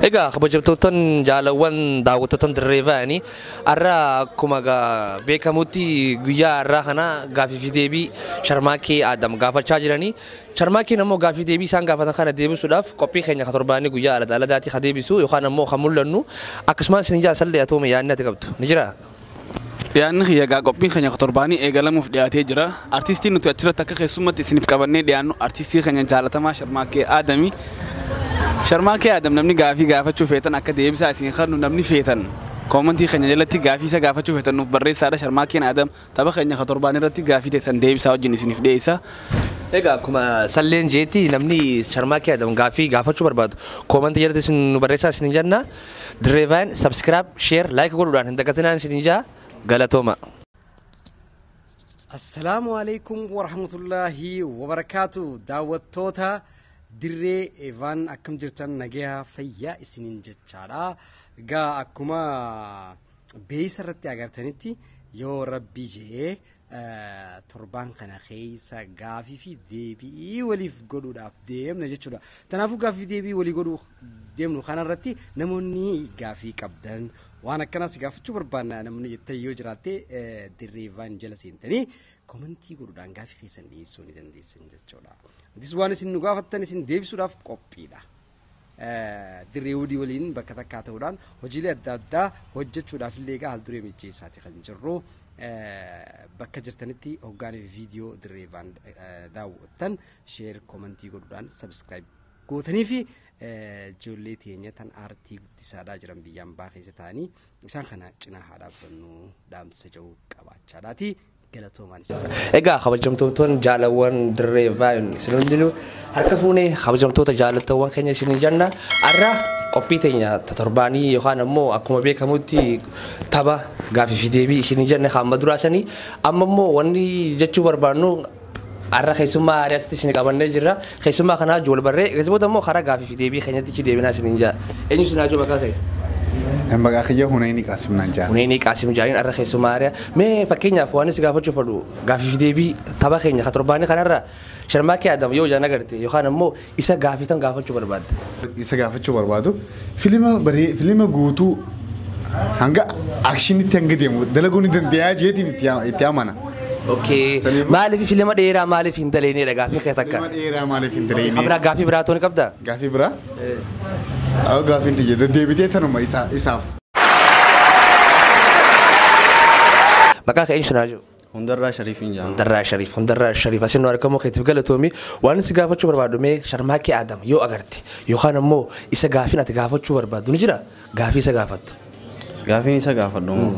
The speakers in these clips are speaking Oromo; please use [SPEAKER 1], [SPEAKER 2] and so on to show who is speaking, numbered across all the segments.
[SPEAKER 1] Egaa kabajamtootan jaalawwan daawwattootan dirree ba'anii har'a akkuma gaa- beekamutti guyyaa har'aa kana gaaffii fi deebii sharmaakee Adam gaafachaa jiranii Charmaakiin ammoo gaaffii deebii isaan gaafatan kana deebisuudhaaf qophii keenya ka torbaanii guyyaa alada aladaatii ka deebisu yookaan ammoo ka mul'annu akkasumaan isin ijaa sallee atoome yaadni ati qabdu ni jiraa? Dhiyaanni
[SPEAKER 2] kiyya egaa qophiin keenya ka torbaanii eegalamuuf dhiyaatee jira. Artiistiin nuti achirratti akka keessummatti isiniif qabannee dhiyaannu artiistii keenya jaalatamaa Sharmaakkee Aadami. Sharmaakkee Aadam namni gaafii gaafachuu feetan akka deebisaa isin kennu namni feetan koomantii keenya jalatti gaafii isa gaafachuu feetan nuuf barreessaadha Sharmaakkeen Aadam Tapha keenya ka torbaanii irratti gaafii teessan deebisaa wajjin isiniif dhiyeessa. Egaa akkuma
[SPEAKER 1] salleen jeetti namni Sharmaakee Adam gaafii gaafachuu barbaadu koomantii jalatti isin nu barreessaa isiniin jenna. Dirree Vaayin subscribe, share, like godhuudhaan hin dagatinaan isiniin jaa galatooma.
[SPEAKER 3] Assalaamu alaikum warahmatullaahi wabarakaatu daawwattoota dirree eevaan akkam jirtan nagayaa fayyaa isiniin jechaadha. Egaa akkuma beeysa irratti agartanitti yoo rabbii je'ee torbaan kana keessa gaafii fi deebi'ii waliif godhuudhaaf deemna jechuudha. Kanaafuu gaafii deebii walii godhuu deemnu kanarratti namoonni gaafii qabdan waan akkanaas gaafachuu barbaanna namoonni jettan yoo jiraatte dirreevaan jala seentanii komentii godhuudhaan gaafii keessan dhiyeessuu ni dandeessan jechuudha. Atis waan isin nu gaafattan isin deebisuudhaaf qophiidha. dirree wudii waliin bakka takkaa ta'uudhaan hojiilee adda addaa hojjechuudhaaf illee egaa haalduree mijeessaati kan jirru. Bakka jirtanitti hoggaanii fi viidiyoo dirree vaan daawwattan sheer koomantii godhuudhaan sabiskiraayib gootanii fi ijoollee teenya tan aartii guddisaadhaa jiran biyyaan baa keessa ta'anii isaan kana cinaa haa dhaabbannu dhaamsa jedhu qabaachaadhaati. galatoomaan isin
[SPEAKER 1] jaalladha. Egaa kabajamtoottoon jaalawwan dirree vaayin isin hundinuu harka fuunee kabajamtoota jaalattoowwan keenya isin janna arra qophii teenya ta torbaanii yookaan ammoo akkuma beekamutti tapha gaafii fi deebii isin janne hamma duraa sanii amma immoo wanni jechuu barbaannu Har'a keessummaa aadaa asitti isin qabannee jirra. Keessummaa kanaa wajjin wal barree akkasii booda immoo karaa gaafii fi deebii keenyatti ichi deebinaa isiniin jaa. Eenyu isin haajoo maqaa kee? Maqaa
[SPEAKER 4] kiyya Huneeni Qaasim naan jaa. Huneeni Qaasim jaaniin har'a
[SPEAKER 1] keessummaa aadaa. Mee fakkeenyaaf waan isin gaafachuu fadhu gaafii fi deebii tapha keenya ka torbaanii kanarra sharmaakee Adam yoo ijaan agarte yookaan ammoo Isa gaafii tan gaafachuu barbaadda? Isa gaafachuu
[SPEAKER 4] barbaadu filima baree filima guutuu hanga akshinitti hanga deemu dalaguu ni dandeeyaa jeetiin itti yaa- itti amana. Okay. Saniif-
[SPEAKER 1] Maaliif filima dheeraa maaliif hin daleenedha gaafii kee takka? Filima dheeraa maaliif hin Biraa
[SPEAKER 4] daleenee? gaafii biraa tooni qabda?
[SPEAKER 1] Gaafii biraa?
[SPEAKER 4] Awo gaafiin tiyya deddeebitee tanuma isaa- isaaf.
[SPEAKER 1] Maqaa kee eenyu naa jiru? Hundarraa Shariifin jedhama.
[SPEAKER 5] Hundarraa Shariif, Hundarraa Shariif
[SPEAKER 1] asin nu argamuu keetiif galatoomi. Waan si gaafachuu barbaadu mee Sharmaakee Aadam yoo agarte yookaan ammoo isa gaafin ati gaafachuu barbaadu ni jira gaafii isa gaafattu. Gaafiin isa
[SPEAKER 5] gaafadhu moo?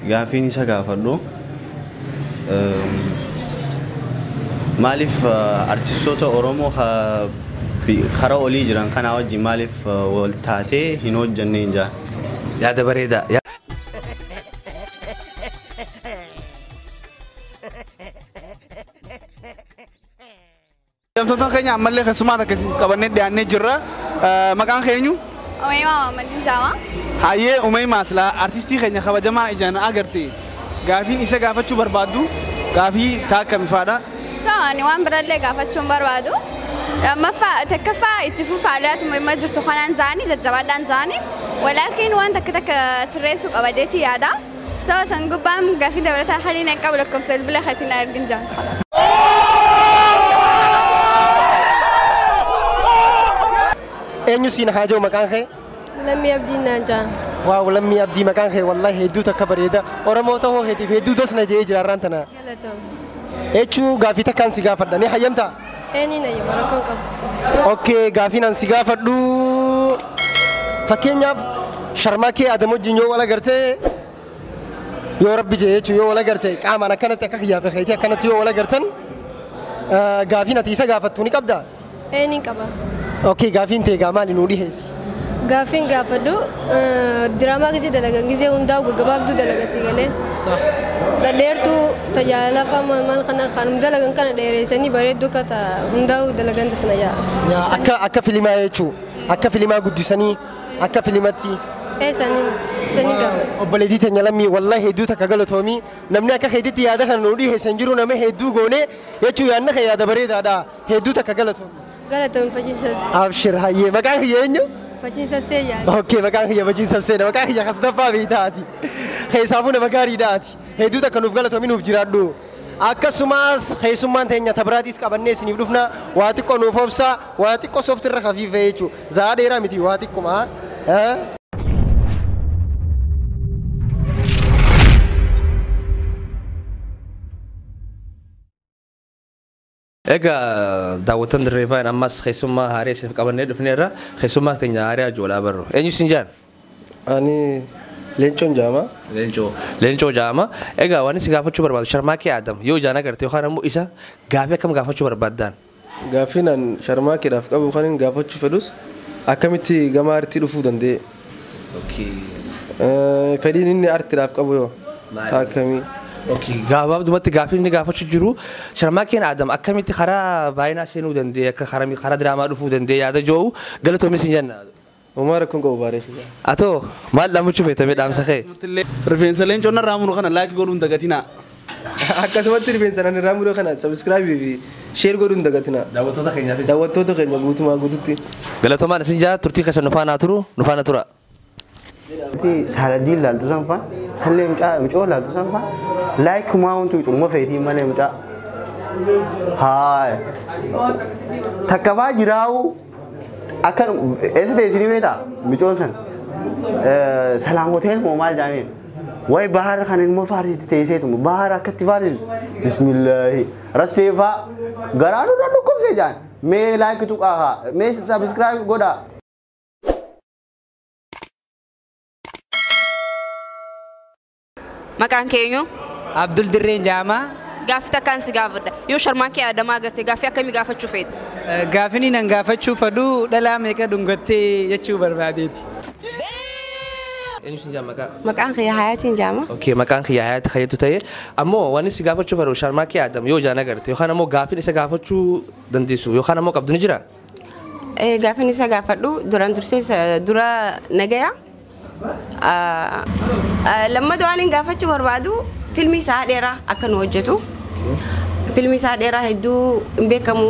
[SPEAKER 5] Gaafiin isa gaafadhu ehm, maaliif eh, artistoota Oromoo ka- bi- kara olii jiran kanaa wajjin maaliif eh, wal taatee hin hojjanneen jaa? Yaada
[SPEAKER 1] bareedaa.
[SPEAKER 2] Hojjettoota keenya ammallee keessumaa takka isiniif qabannee dhiyaannee jirra. Eh, Maqaan keenyu Omeemaa Maammaddiin
[SPEAKER 6] Jaamaa. Hayyee Umee
[SPEAKER 2] Maasla artistii keenya kabajamaa ijaan agarte gaafiin isa gaafachuu barbaaddu gaafii taakka mifaadha. So ani waan
[SPEAKER 6] birallee gaafachuun barbaadu lammaffaa takkaffaa itti fufa aliyaatu morma jirtu kanaan jaanii jajjabaadhaan jaanii walaakiin waan takka takka sirreessuu qaba jeetii yaada so san gubbaan gaafii dabalataa haliin hin qabu lakkoofsa bilbila keetiin na argin jaan.
[SPEAKER 3] Eenyu siin haa jiru maqaan kee? Lammii abdiin
[SPEAKER 7] naan jaan. Waaw lammii abdii
[SPEAKER 3] maqaan kee wallahi hedduu takka bareeda. Oromoo ta'uu keetiif hedduu dasna jedhee jira har'aan tana. Galatoom. Echuu gaaffii takkaan si gaafadha ni hayyamtaa? Eenyu na yema
[SPEAKER 7] rakkoon qabu. Okay
[SPEAKER 3] gaafiin an si gaafadhu fakkeenyaaf sharmaa kee adam wajjin yoo wal agartee yoo rabbi jee jechuun yoo wal agarte qaamaan akkanatti akka kiyyaa fi keetii akkanatti yoo wal agartan eh, gaafiin ati isa gaafattu ni qabdaa? Ee ni
[SPEAKER 7] qaba. Okay gaafiin
[SPEAKER 3] tee egaa maali nuu dhiheessi. Gaaffiin
[SPEAKER 7] gaafadhu eh, diraamaa gizee dalagan gizee hundaa'u gaggabaabduu dalagan si galee. Sax. Dhadheertuu tajaajila fama maal kana kanum dalagan kana dheereessanii bareedduu akka ta hundaa'u dalagan tasna yaa. Yaa akka akka filimaa jechuu
[SPEAKER 3] akka filimaa guddisanii akka filimatti. Ee saniin
[SPEAKER 7] saniin gaafadhu. Obboleettii teenya lammii
[SPEAKER 3] wallahi hedduu takka galatoomii namni akka keetitti yaada kana nuu dhiheessan jiru nama hedduu goonee jechuu yaadna kee yaada bareedaadha Hedduu takka galatoomi. Galatoon faciisa Abshir hayyee
[SPEAKER 7] maqaan
[SPEAKER 3] kiyya eenyu?
[SPEAKER 7] faciisa seeyyaa. Okkee maqaan kiyya faciisa
[SPEAKER 8] seena maqaan kiyya kasdaffaa beektaa ati. Keessaafuu nama gaariidha ati. Hedduu takka nuuf galatoomi nuuf jiraadhu. Akkasumas keessummaan teenya tabiraatiis qabannee isiniif dhufna waa xiqqoo nuuf obsa waa xiqqoo soofti irra kafiifee jechuudha. Zaa dheeraa miti waa xiqquma. Eh?
[SPEAKER 1] Egaa daawwattoon Dirree Faan ammas keessummaa haarii isiniif qabannee dhufneerra. Keessummaa keenya haarii Ajoolaa Barru. Eenyu isin jaan? Ani
[SPEAKER 8] leencoon jaama. Leencoo. Leencoo
[SPEAKER 1] jaama. Egaa waan isin gaafachuu barbaadu Sharmaakee Aadam yoo ijaan agarte yookaan ammoo isa gaafii akkam gaafachuu barbaaddaan? Gaaffiin an
[SPEAKER 8] sharmaakeedhaaf qabu kan hin gaafachuu fedhus akkamitti gama aartii dhufuu danda'e? Okay. Eh, Fedhiin inni artiidhaaf qabu yoo Maali? akkamii? Okay.
[SPEAKER 1] Gabaabdumatti gaaffii inni gaafachuu jiru Sharmaakeen Aadam akkamitti karaa baay'inaa seenuu danda'e akka karaa karaa diraamaa dhufuu danda'e yaada jiru galatoomis hin jenna. Uumaa rakkoon qabu
[SPEAKER 8] baaree fi Atoo maal
[SPEAKER 1] dhaamachuu feetamee dhaamsa kee? Rifeensa leencoo
[SPEAKER 2] narraa muru kana laakii godhuun dagatinaa. Akkasumatti
[SPEAKER 8] rifeensan ani irraa mure kana subscribe fi share godhuu hin dagatina. Daawwattoota keenyaafis. Daawwattoota keenya guutumaa guututti. Galatoomaan isin jaa
[SPEAKER 1] turtii keessan nu faanaa turu nu faana tura. Ati
[SPEAKER 5] saaladiin laaltu san faa sallee mucaa mucoo laaltu san faa laayik kumaa wantu cumma feetii malee mucaa. Haaya. Takka faa jiraawuu. Akkan eessa ta'e isinii beektaa? Micoon san. Salaam hotel moo maal jaaniin? Wayi bahaar kan ilmoo faarsitti teesseetu bahaar akkatti faarsisu. Bismillaahi. Rassee faa garaa nu dhukkubsee jaan. Mee laayik tuqaa haa. Mee sabiskiraayib godhaa.
[SPEAKER 9] Maqaan kee eenyu? Abdul Dirreen
[SPEAKER 10] Jaamaa. Gaaffii takkaan si
[SPEAKER 9] gaafadha. Yoo sharmaa kee Adamaa agarte gaaffii akkamii gaafachuu feeta? Gaafini nan
[SPEAKER 10] gaafachuu fadhu dhalaa meeqa dhungattee jechuu barbaadeeti.
[SPEAKER 1] Eenyu sin jaama maqaa? Maqaan kiyya Hayaatiin
[SPEAKER 11] jaama. Okay, maqaan kiyya Hayaati
[SPEAKER 1] Kayyatu ta'e. Ammoo wanni si gaafachuu fadhu sharmaa kee Adam yoo ijaan agarte yookaan ammoo gaaffiin isa gaafachuu dandeessu yookaan ammoo qabdu ni jira?
[SPEAKER 11] Gaafin isa gaafadhu duraan dursee dura nagaya. Lammata waan hin gaafachuu barbaadu filmii isaa dheeraa akka nu hojjetu. Filmii isaa dheeraa hedduu hin beekamu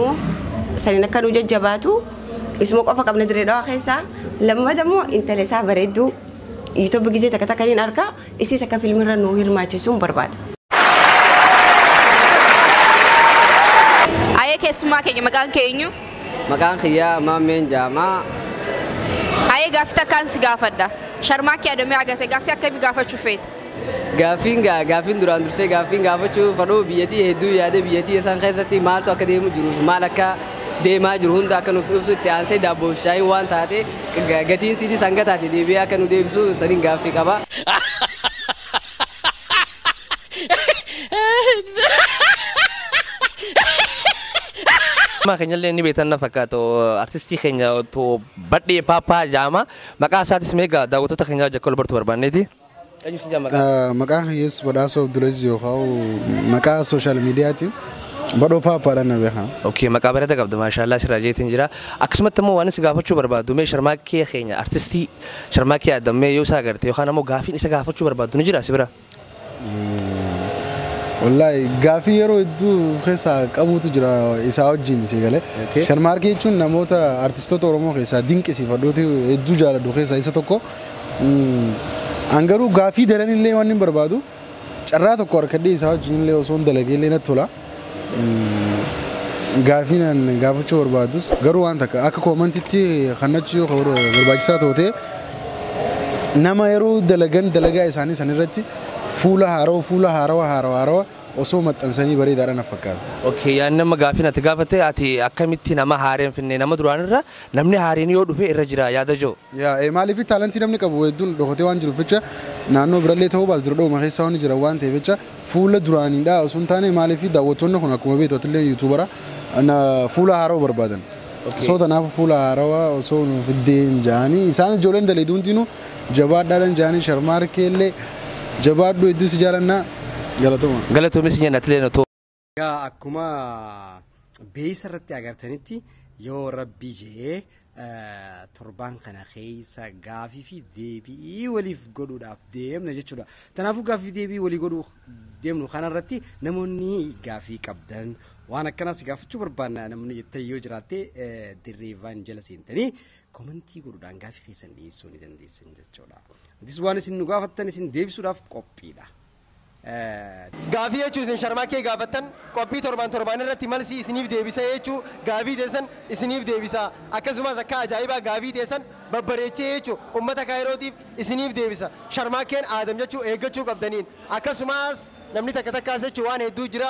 [SPEAKER 11] saniin akka nu jajjabaatu isuma qofa qabna dirree dhawaa keessaa. Lammata immoo intala isaa bareedduu yuutuubii gizee takka takka hin argaa. Isiis akka film irra nuu hirmaachisuun barbaada.
[SPEAKER 9] Ayee keessummaa keenya maqaan kee eenyu? Maqaan kiyyaa
[SPEAKER 12] Maammeen Jaamaa.
[SPEAKER 9] Ayee gaaffii takkaan si gaafadha. Sharmaakkee Adomiyaa Agatee gaaffii akkamii gaafachuu feeta? Gaaffiin gaa
[SPEAKER 12] gaaffiin duraan dursee gaaffiin gaafachuu fadhuu biyyatii hedduu yaadee biyyatii isaan keessatti maaltu akka deemu jiru maal akka deemaa jiru hunda akka nuuf ibsu itti aansee daabboo fi shaayiin waan taate Ga- Gatiin siidiis hanga taate deebi'ee akka nu deebisu saniin gaaffii qaba. Amma
[SPEAKER 1] keenyallee ni beektan na fakkaata artistii keenya otoo badhee paappaa jaama maqaa isaatis meegaa daawwattoota keenyaa jakkoo labartuu barbaanneeti.
[SPEAKER 4] Maqaan kiyya Yesus Badhaasoo Abdulaziz yoo ka'u maqaa sooshaal miidiyaatiin Badhoo Paappaadhaan na beekama. Okay, maqaa bareeda qabda
[SPEAKER 1] maashaallah sirraa jeetiin jira. Akkasumatti immoo waan si gaafachuu barbaadu mee sharmaakkee keenya artistii sharmaakkee Adam mee yoo isa agarte yookaan ammoo gaafiin isa gaafachuu barbaadu ni jira si bira?
[SPEAKER 4] Wallaahi gaafii yeroo hedduu of keessaa qabuutu jira isaa wajjin si galee. Okay. Sharmaarkee jechuun namoota artistoota Oromoo keessaa dinqisiifadhuuti hedduu jaaladhu keessaa isa tokko. An garuu gaaffii daran illee wannin barbaadu carraa tokko harkadhee isaa wajjin illee osoon dalagee illee natti tola. Gaaffii an gaafachuu barbaadus garuu waan takka akka koomantitti kannachuu yoo ka- barbaachisaa tootee nama yeroo dalagan dalagaa isaanii san irratti fuula haarawa fuula haarawa haarawa haarawa osoo maxxansanii bareedaadha na fakkaata. Okay, yaa nama gaafiin
[SPEAKER 1] ati gaafate ati akkamitti nama haareen finne nama duraanirra Namni haareen yoo dhufe irra jira yaada joo. Yaa ee maaliif taalantii
[SPEAKER 4] namni qabu hedduun dhokatee waan jiruuf jecha naannoo birallee ta'uu baatu diradhawuma keessa waan jiran waan ta'eef jecha fuula duraaniidha osoo hin taane maaliif daawwattoonni kun akkuma beektu atillee yuutuubara fuula haarawa barbaadan soo tanaafu fuula haarawa osoo nu fiddeen jaanii isaanis ijoolleen daleedu hundiinu jabaadhaadhan jaanii sharmaarkeellee jabaadhu hedduu si jaalannaa galatoma. Galatoomi
[SPEAKER 1] si jenna atilee no. Egaa akkuma
[SPEAKER 3] beeysa irratti agartanitti yoo rabbii jee torbaan kana keessa gaafii fi deebii waliif godhuudhaaf deemna jechuudha. Kanaafuu gaafii deebii walii godhuu deemnu kanarratti namoonni gaafii qabdan waan akkanaas gaafachuu barbaanna namni jettee yoo jiraatte dirreevaan jala seentanii komentii godhuudhaan gaafii keessan dhiyeessuu ni dandeessan jechuudha. Atis waan isin nu gaafattan isin deebisuudhaaf qophiidha.
[SPEAKER 8] Gaafii jechuu isin sharmaakkee gaafattan qophii torbaan torbaan irratti malsii isiniif deebisa jechuu gaafii teessan isiniif deebisa akkasumaas akkaa ajaa'ibaa gaafii teessan babbareechee jechuu ummata kaayirootiif isiniif deebisa sharmaakkeen aadam jechuu eeggachuu qabdaniin akkasumaas namni takka takkaas jechuu waan hedduu jira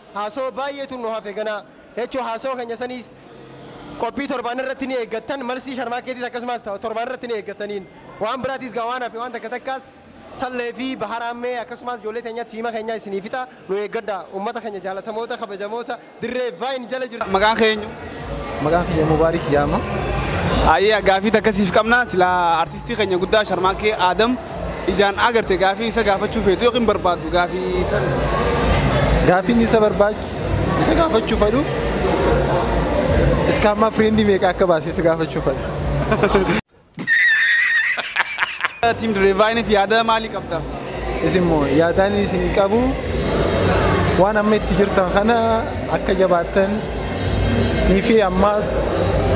[SPEAKER 8] Haasawa baay'eetu nu hafe ganaa. H.O haasawa keenya saniis qophii torbaan irratti ni eeggattan, malsii sharmaakkeetiis akkasumaas ta'a torbaan irratti ni eeggattaniin. Waan biraatiis gaa waan hafe waan takka takkaas Sallee fi Bahar Aammee akkasumaas ijoollee teenyaatu fiima keenyaa isinii fixa nu eeggadhaa. Ummata keenya jaalatamoota, kabajamoota dirree Vine jala jirtan. Maqaan kee eenyu?
[SPEAKER 2] Maqaan kiyya
[SPEAKER 4] Mubaarik Yaama. Ayyee
[SPEAKER 2] gaafii takka siif qabna silaa artistii keenya guddaa Sharmaakee Aadam ijaan agarte gaafii isa gaafachuu feetu yookiin barbaaddu gaafii tan.
[SPEAKER 4] Gaafiin isa barbaachu isa gaafachuu fedhu iskaammaa firiindii meeqa akka baase isa gaafachuu fedha.
[SPEAKER 2] Tiim Direevaayiniif yaada maalii qabda? Isin immoo
[SPEAKER 4] yaadaan isinii qabu waan amma itti jirtan kana akka jabaattan ni fi ammaas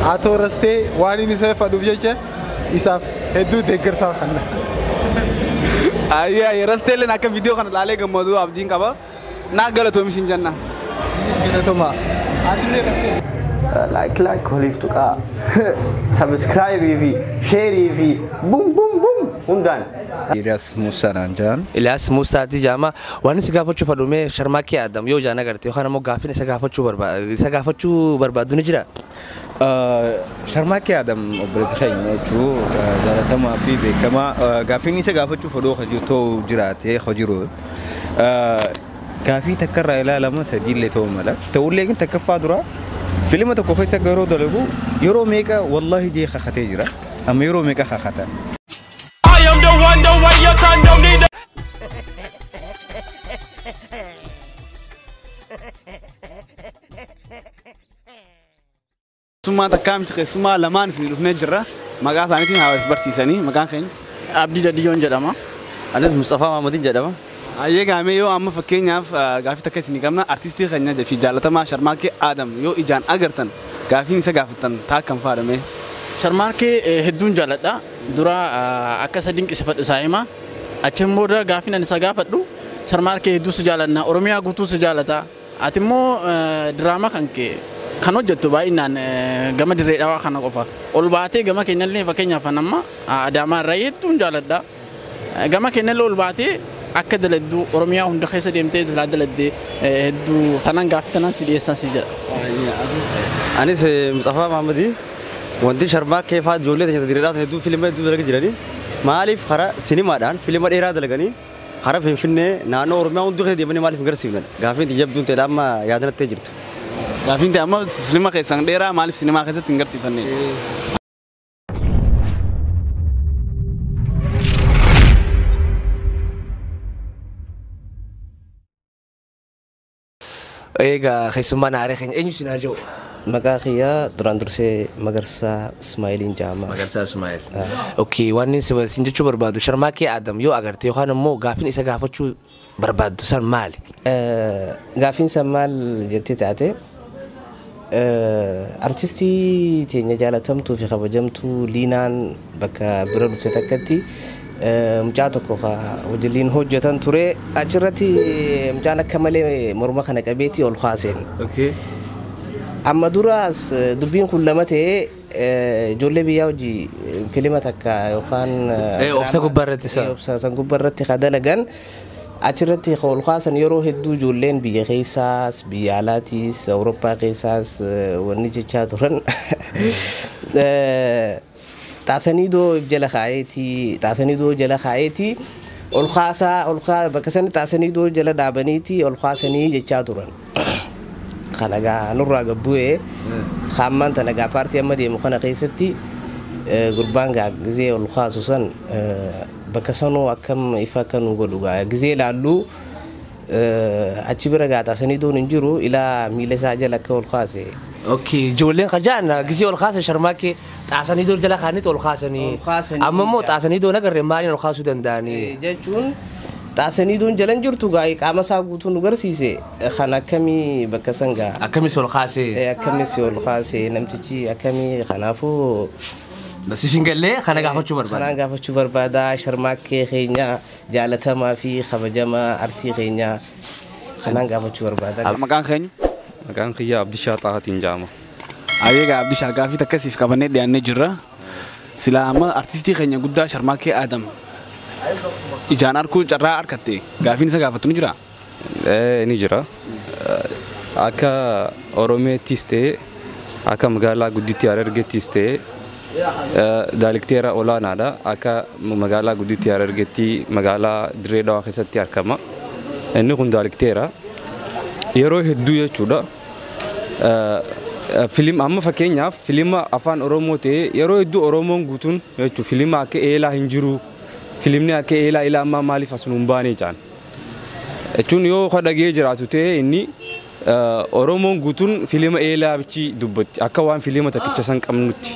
[SPEAKER 4] haa tooras ta'e waan inni isa fadhuuf jecha isaaf hedduu deeggarsaa kanna. Ayyaa
[SPEAKER 2] yeroo ta'elleen akka viidiyoo kana ilaalee gammadu abdiin qaba. Naa galatoomi sin janna. Isinis galatomaa.
[SPEAKER 4] Atillee rastee. Like like
[SPEAKER 5] waliif tuqaa. Subscribe fi share fi bum bum bum hundaan. Ilyas Musa
[SPEAKER 13] naan jaan. Ilyaas Muusaati
[SPEAKER 1] jaama waan si gaafachuu fadhume sharmaakee Adam yoo jaan agarte yookaan ammoo gaaffiin isa gaafachuu barbaadu isa gaafachuu barbaadu ni jira. Sharmaakkee
[SPEAKER 13] Adam obboleessa keenya jechuun jaalatamaa fi beekamaa gaaffiin isa gaafachuuf odoo kan jiru ta'uu jiraatee kan jiru gaaffii takka irraa ilaalama sadiillee ta'uu mala. Ta'ullee kan takkaffaa dura filima tokko keessa yeroo dalagu yeroo meeqa wallaahi jee kakatee jira amma yeroo meeqa kakata. I
[SPEAKER 14] am the one, the way your son don't need
[SPEAKER 2] Keessummaa takkaa miti keessummaa lamaan isin dhufnee jirra. Maqaa isaaniitiin haa waliif barsiisanii maqaan keenya. Abdii Dadiyyoon
[SPEAKER 12] jedhama. Anis Mustafaa
[SPEAKER 13] Maamadiin jedhama. Ayyee gaamee yoo
[SPEAKER 2] amma fakkeenyaaf ah, gaaffii takka isinii qabna artistii keenya fi jaalatamaa Sharmaakee Aadam yoo ijaan agartan gaaffiin isa gaafattan taa kan faadhame. Sharmaarkee
[SPEAKER 12] eh, hedduun jaaladha. Dura ah, akka isa dinqisifadhu isaa hima. Achiin booda gaaffiin ani isa gaafadhu Sharmaarkee hedduu si jaalanna. Oromiyaa guutuu si jaalata. Ati immoo diraama kanke kan hojjattu baay'inaan gama dirree dhawaa kana qofa. Ol baatee gama keenyallee fakkeenyaaf an amma Adaamaa irraa hedduun jaaladha. Gama keenyallee ol baatee akka daladdu Oromiyaa hunda keessa deemtee silaa daladde hedduu tanan gaaffii tanan si dhiyeessan si jedha.
[SPEAKER 13] Anis Mutsafaa Maammadii wanti sharmaakkee fa'aa ijoollee teenya dirree dhawaa tan hedduu filima hedduu dalagi jiranii maaliif karaa sinimaadhaan filima dheeraa dalaganii Hara Finfinnee, naannoo Oromiyaa hunduu keessa deemanii maaliif hin garsiifne? Gaaffiin tiyya jabduun ta'edha amma yaada natti jirtu. Gaaffiin tiyya
[SPEAKER 2] amma filma keessan dheeraa maaliif sinimaa keessatti hin garsiifanne?
[SPEAKER 1] Eegaa keessummaan aaree keenya eenyu isin haa jiru? Maqaa kiyyaa
[SPEAKER 5] duraan dursee Magarsaa Ismaa'iliin jedhama. Magarsaa Ismaa'il.
[SPEAKER 1] Okkee waan inni isin jechuu barbaadu sharmaakee Aadam yoo agarte yookaan immoo gaaffiin isa gaafachuu barbaaddu san maali?
[SPEAKER 5] Gaaffiin san maal jettee taate Artistii teenya jaalatamtuu fi kabajamtuu Liinaan bakka bira dhufte takkatti mucaa tokko ka wajjin hojjetan ture. Achirratti mucaan akka malee morma kana qabeetii ol kaaseen. Okay. Amma duraas eh, dubbiin kun lama ta'ee eh, ijoollee biyyaa hojii eh, filima takka yookaan eh, Eh, obsa drama- gubbaa
[SPEAKER 1] irratti isa. eh, obsa san gubbaa irratti
[SPEAKER 5] ka dalagan Achirratti kan ol kaasan yeroo hedduu ijoolleen biyya keessaas, biyya alaatiis, Awurooppaa keessaas wanni jechaa turan Xaasaniidoo if jala kaa'eeti, Xaasaniidoo jala kaa'eeti ol kaasaa,
[SPEAKER 1] ol kaa bakka sana Xaasaniidoo jala dhaabaniiti ol kaasanii jechaa turan. Kana gaa nurraa gad bu'ee kaan maanta nagaa paartii amma deemu kana keessatti gurbaan gaa gizee ol kaasu san Bakka sanoo akkam ifa akka nuu godhu gaa gizee ilaallu achi bira gaa xaasaniidoon hin jiru ilaa miila isaa jala akka ol kaase. Okay ijoolleen kajaan gizee ol kaasa sharmaakkee xaasaniidoo jala kaannitti ol kaasanii Ol kaasanii amma immoo ijaa. xaasaniidoon agarre maaliin ol kaasuu danda'anii. Eh, jechuun xaasaniidoon jalan jirtu gaa qaama isaa guutuu nu garsiise kan akkamii bakka san gaa Akkamis ol kaasee. Eh, akkamis ol kaase namtichi akkamii kanaafuu Nasiif hin galle kana gaafachuu barbaada. Kanaan gaafachuu barbaada sharmaakkee keenya jaalatamaa fi kabajamaa artii keenya kanaan gaafachuu barbaada. Maqaan keenyu? Maqaan
[SPEAKER 15] kiyya Abdishaa Xaahatiin jedhama. Ayeega
[SPEAKER 2] Abdishaa gaafii takka siif qabannee dhiyaannee jirra. Silaa amma artistii keenya guddaa Sharmaakkee Aadam ijaan arguu carraa argatte gaafiin isa gaafattu ni jiraa? Ee ni jira.
[SPEAKER 15] Akka Oromiyaattis ta'ee akka magaalaa gudditti Harargeettis ta'ee daalikteera olaanaadha. Akka magaalaa gudditti Harargeetti magaalaa Dirree Dhawaa keessatti argama. Inni kun daalikteera. Yeroo hedduu jechuudha. Filim amma fakkeenyaaf filima afaan Oromoo ta'ee yeroo hedduu Oromoon guutuun jechuun filima akka eelaa hin jiru. Filimni akka eelaa ilaa ammaa maaliif as nuun baanee jaan. Jechuun yoo ka dhagee jiraatu ta'e inni Oromoon guutuun filima eelaa bichi dubbatti akka waan filima takkicha san qabnutti.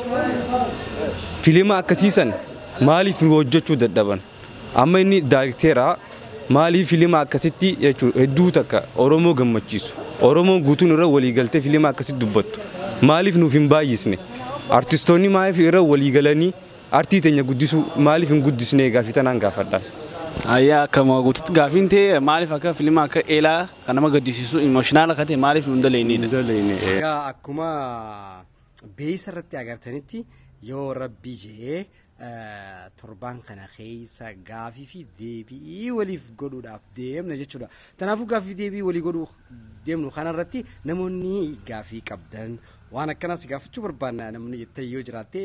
[SPEAKER 15] Filima akkasii san maaliif nu hojjechuu dadhaban? Amma inni daayirekteera maaliif filima akkasitti jechuun hedduu takka Oromoo gammachiisu. Oromoon guutuun irra walii galtee filima akkasitti dubbattu. Maaliif nuuf hin baay'isne? Artistoonni maaliif irra walii galanii Artii teenya guddisuu maaliif hin guddisnee gaafii tanaan gaafadha. Hayyee akkuma
[SPEAKER 2] guututti gaafiin tee maaliif akka filima akka eelaa kan nama gaddisiisu emotional akka ta'e maaliif nu hin daleeyneedha. Daleeyne. Egaa akkuma
[SPEAKER 3] beeysa irratti agartanitti yoo rabbii je'ee eh, torbaan kana keessa gaafii fi deebi'ii waliif godhuudhaaf deemna jechuudha. Kanaafuu gaafii fi deebi'ii walii godhuu deemnu kanarratti namoonni gaafii qabdan Waan akkanaa si gaafachuu barbaanna namni jettee yoo jiraatte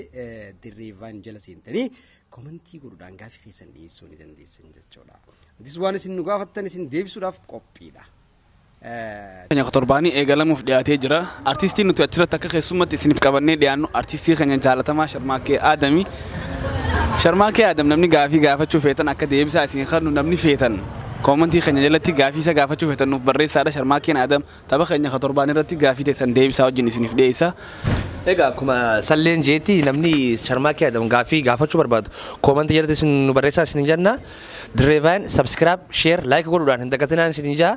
[SPEAKER 3] dirree vaan jala seentanii komentii godhuudhaan gaafii keessan dhiyeessuu ni dandeessan jechuudha. Nutis waan isin nu gaafattan isin deebisuudhaaf qophiidha.
[SPEAKER 2] Keenya torbaanii eegalamuuf dhiyaatee jira. Artistiin nuti achirratti akka keessummatti isiniif qabannee dhiyaannu artistii keenya jaalatamaa Sharmaakee Aadami. Sharmaakee Aadam namni gaafii gaafachuu feetan akka deebisaa isin kennu namni feetan koomantii keenya jalatti gaafii isa gaafachuu feetan nuuf barreessaadha Sharmaakeen Aadam Tapha keenya ka torbaanii irratti gaafii teessan deebi isaa wajjin isiniif dhiyeessa. Egaa akkuma
[SPEAKER 1] salleen jeetti namni Sharmaakee Adam gaafii gaafachuu barbaadu koomantii jalatti isin nu barreessaa isin jenna. Dirree Vaayin subscribe, share, like godhuudhaan hin dagatinaan isin jaa.